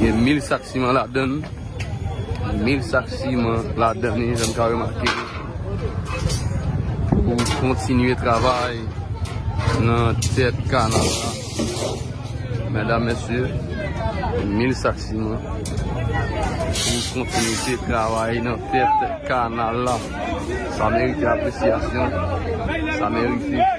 Gen 1000 sak siman ladan l. 1000 sak siman ladan li jan n ka remake pou kontinye travay nan tèt kanal la. Medam mesye, 1000 sak siman pou kontinite travay nan tèt kanal la. Sa merite apresyasyon. Sa merite.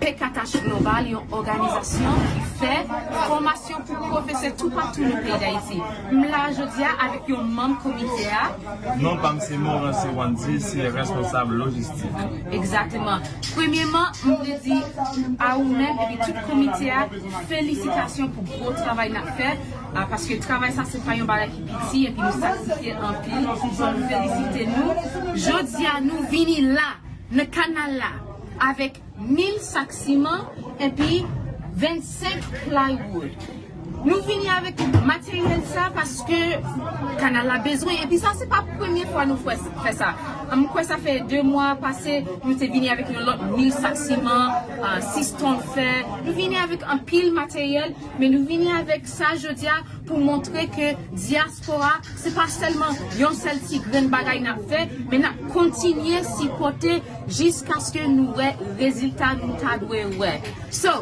Pkh Global yon òganizasyon ki fè fòmasyon pou pwofesè toupatou nan peyi Dayiti. M la a jodi a avèk yon manm komite a. Non pa m se Morancy Wandy, se responsab lojistik. Egzateman. Premyeman, m vle di a ou menm epi tout komite a felisitasyon pou gwo travay n ap fè a paske travay sa se pa yon bagay ki piti epi nou sakrifye anpil. Fò nou felisite nou. Jodi a nou vini la, nan kanal la. avèk 1000 sak siman epi 25 plywood. Nou vini avèk materyèl sa paske kanal la bezwen epi sa se pa premye fwa nou fè sa. M kwè sa fè 2 mwa pase nou te vini avèk yon lòt 1000 sak siman, 6 ton fè. Nou vini avèk anpil materyèl men nou vini avèk sa jodi a pou montre ke dyas. Diaspora se pa sèlman yon sèl ti grenn bagay nap fè, men nap kontinye sipòte jiskaske nou wè rezilta nou ta dwe wè. So,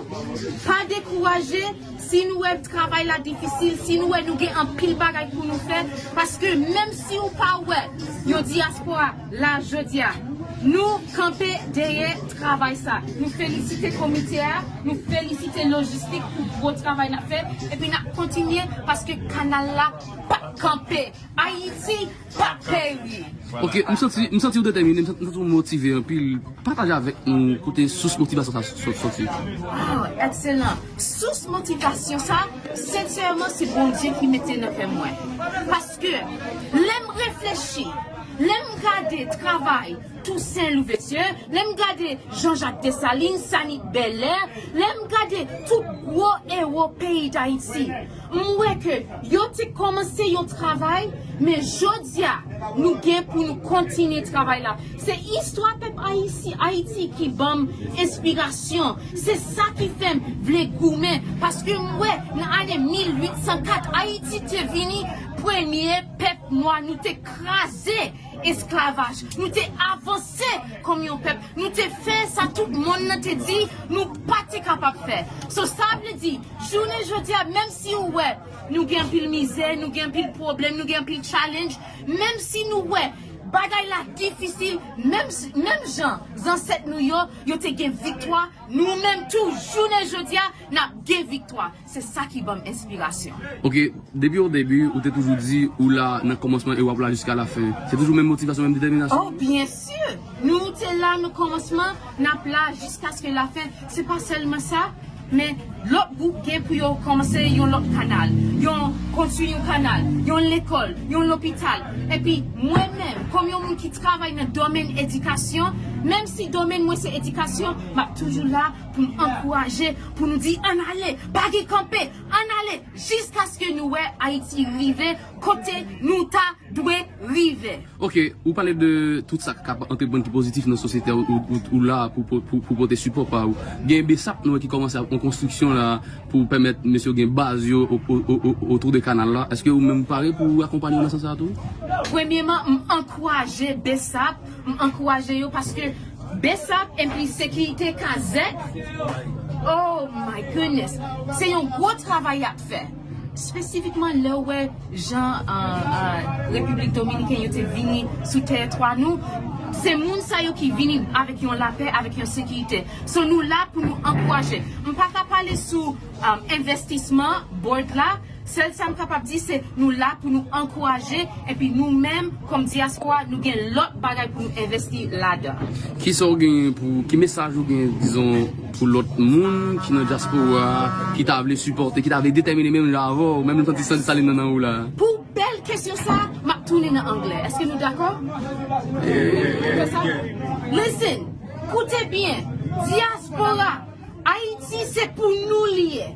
pa dekouraje, si nou wè travay la difisil, si nou wè nou gen anpil bagay pou nou fè, paske menm si ou pa wè yon Diaspora la jodi a. Nou kanpe dèyè travay sa. Nou felisite komite a, nou felisite lojistik pou gwo travay n ap fè epi n ap kontinye paske kanal la p ap kanpe. Ayiti p ap peri! Ok, m santi m santi ou detèmine, m santi ou motive anpil. Pataje avèk nou kote sous motivasyon sa a soti. Waw, ekselan! Sous motivasyon sa a, sensèman se Bondye ki mete nan kè mwen. Paske lè m reflechi. Lè m gade travay Tousen Louvesye, lè m gade Jan Jak Desalin, Sanik Bèlè, lè m gade tout gwo ewo peyi Dayiti, m wè ke yo te kòmanse yon travay, men jodi a, nou gen pou nou kontinye travay la. Se istwa pèp Ayiti ki ban m enspirasyon, se sa ki fè m vle goumen, paske m wè nan ane 1804 Ayiti te vini premye pèp nwa, nou te. kraze esklavaj, nou te avanse kòm yon pèp, nou te fè sa tout monn nan te di nou pa te kapab fè. So sa vle di, jounen jodi a menm si ou wè nou gen anpil mizè, nou gen anpil pwoblèm, nou gen anpil challenge, menm si nou wè bagay la difisil, menm menm jan zansèt nou yo, yo te gen viktwa, nou menm tou jounen jodi a n ap gen viktwa. Se sa ki banm enspirasyon. Ok depi o debi ou te toujou di ou la nan kòmansman e wap la jiska la fen se toujou menm motivasyon menm detèminasyon. Oh byen sur nou te la nan kòmansman nap la jiskaske la fen se pa sèlman sa men lòt gwoup gen pou yo kòmanse yon lòt kanal yon konstwi yon kanal yon lekòl yon lopital epi mwen menm kòm yon moun ki travay nan domèn edikasyon menm si domèn mwen se edikasyon map toujou la Pou n ankouraje, pou nou di ann ale, pa gen kanpe, ann ale jiskaske nou wè Ayiti rive kote nou ta dwe rive. Ok, ou pale de tout sa k kab antreprann ki pozitif nan sosyete a, ou la a pou pote sipò pa ou. Gen bsap nou wè ki kòmanse ak yon konstriksyon la a pou pèmèt mesye yo gen baz yo otou de kanal la. Eske ou menm ou pare pou akonpanye yo nan sans sa a tou? Premyeman, m ankouraje bsap M ankouraje yo paske bsap enpi sekirite kazèk oh my goodness se yon gwo travay yap fè spesifikman lèw wè jan repiblik dominiken yo te vini sou tèritwa nou se moun sa yo ki vini avèk yon lapè avèk yon sekirite so nou la pou nou ankouraje m paka pale sou envestisman board la, sèl sa m kapab di se nou la pou nou ankouraje epi nou menm kòm dyaspora nou gen lòt bagay pou nou envesti ladan. Kisa w genyen pou, ki mesaj ou genyen dizon pou lòt moun ki nan dyaspora a ki ta vle sipòte, ki ta vle detèmine menm jan avè w, menm santi san desalin nan nan ou la? Pou bèl kesyon sa a, m ap tounen nan anglè. Èske nou dakò? Listen! Koute byen! Dyaspora! Ayiti se pou nou li ye.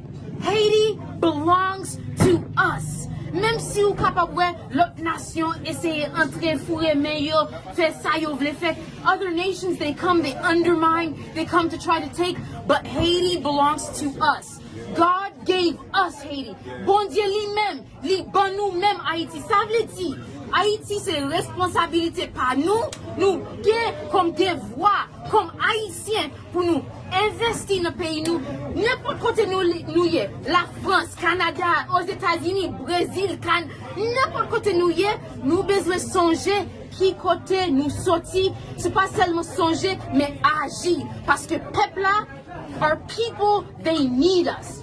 Haiti belongs to us menm si ou kapab wè lòt nasyon eseye antre foure men yo fè sa yo vle fè other nations they come they undermine they come to try to take but Haiti belongs to us God gave us Haiti Bondye li menm li ban nou menm Ayiti sa vle di Ayiti se responsabilite pa nou nou gen kòm devwa kòm ayisyen Pou nou envesti nan peyi nou nenpòt kote nou ye la frans kanada ozetazini brezil kan nenpòt kote nou ye nou bezwen sonje ki kote nou soti se pa sèlman sonje men aji paske pèp la our people they need us.